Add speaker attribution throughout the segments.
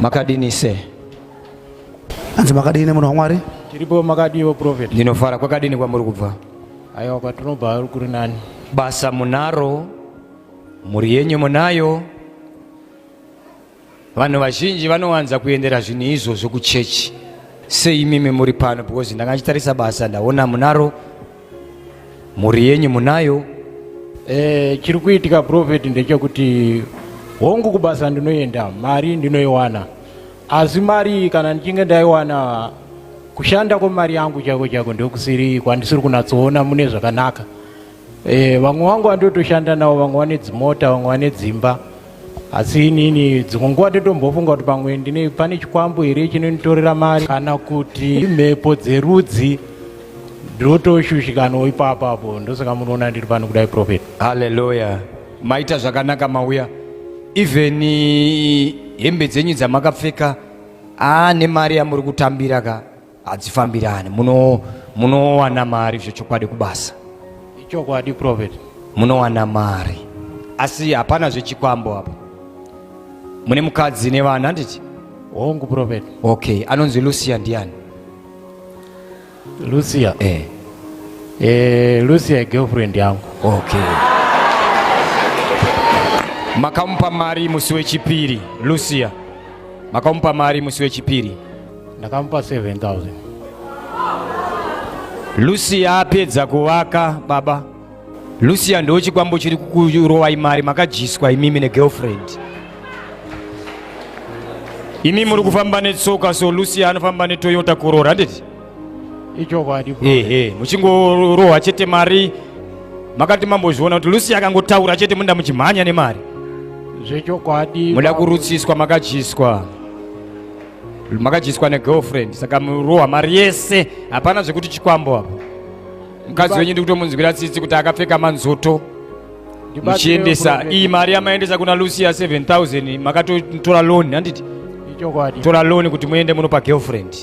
Speaker 1: Makadini
Speaker 2: se?
Speaker 3: Anzi makadini munhu waMwari? Tiripo makadiwo
Speaker 4: prophet. Ndinofara kwakadini kwamuri
Speaker 2: kubva? Aiwa kwatinobva
Speaker 4: kuri nani. Basa munaro,
Speaker 2: mhuri yenyu munayo. Vanhu vazhinji vanowanza kuendera zvinhu izvozvo kuchechi. Sei imimi muri pano because ndanga ndichitarisa basa ndaona munaro mhuri yenyu munayo eh,
Speaker 4: chiri kuitika profeti ndechekuti hongu kubasa ndinoenda mari ndinoiwana asi mari kana ndichinge ndaiwana kushanda kwemari yangu chako chako ndokusiri kwandisiri kunatsoona mune zvakanaka eh, vamwe e, wangu andotoshanda navo vamwe vane dzimota vamwe vane dzimba asi inini dzimwe nguva totombofunga kuti pamwe ndine pane chikwambo here chinonditorera mari kana kuti imhepo dzerudzi ndotoshushikanawo ipapo apo ndosaka munoona ndiri pano kudai profet haleluya
Speaker 2: maita zvakanaka mauya even hembe dzenyu dzamakapfeka aa nemari yamuri kutambira ka hadzifambirani munowana mari zvechokwadi kubasa ichokwadi
Speaker 4: prophet munowana
Speaker 2: mari asi hapana zvechikwambo apa mune mukadzi nevana handiti hongu prophet
Speaker 4: okay anonzi
Speaker 2: lucia ndiani
Speaker 4: lucia eh. Eh, lucia igirlfriend yangu okay
Speaker 2: makamupa mari musi wechipiri lucia makamupa mari musi wechipiri ndakamupa 7000 lucia apedza kuvaka baba lucia ndo chikwambo chiri kukurovai mari makadyiswa imimi negirlfriend imi muri kufamba netsoka so lucia anofamba netoyota korora handiti ichokwadi
Speaker 4: ehe
Speaker 2: muchingorohwa chete mari makati mambozviona kuti lucy akangotaura chete muda muchimhanya nemari zvechokwadi
Speaker 4: muda kurutsiswa
Speaker 2: makadyiswa makadyiswa negirlfriend saka murohwa mari yese hapana zvekuti chikwambo apo mukadzi wenyu ndikutomunzwira tsitsi kuti akapfeka manzoto muchiendesa iyi mari yamaendesa kuna lucia 7000 makatotora loan handiti tora
Speaker 4: loan kuti muende
Speaker 2: munopa girlfriend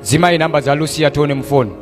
Speaker 2: Dzimai number dza Lucia tione mufoni.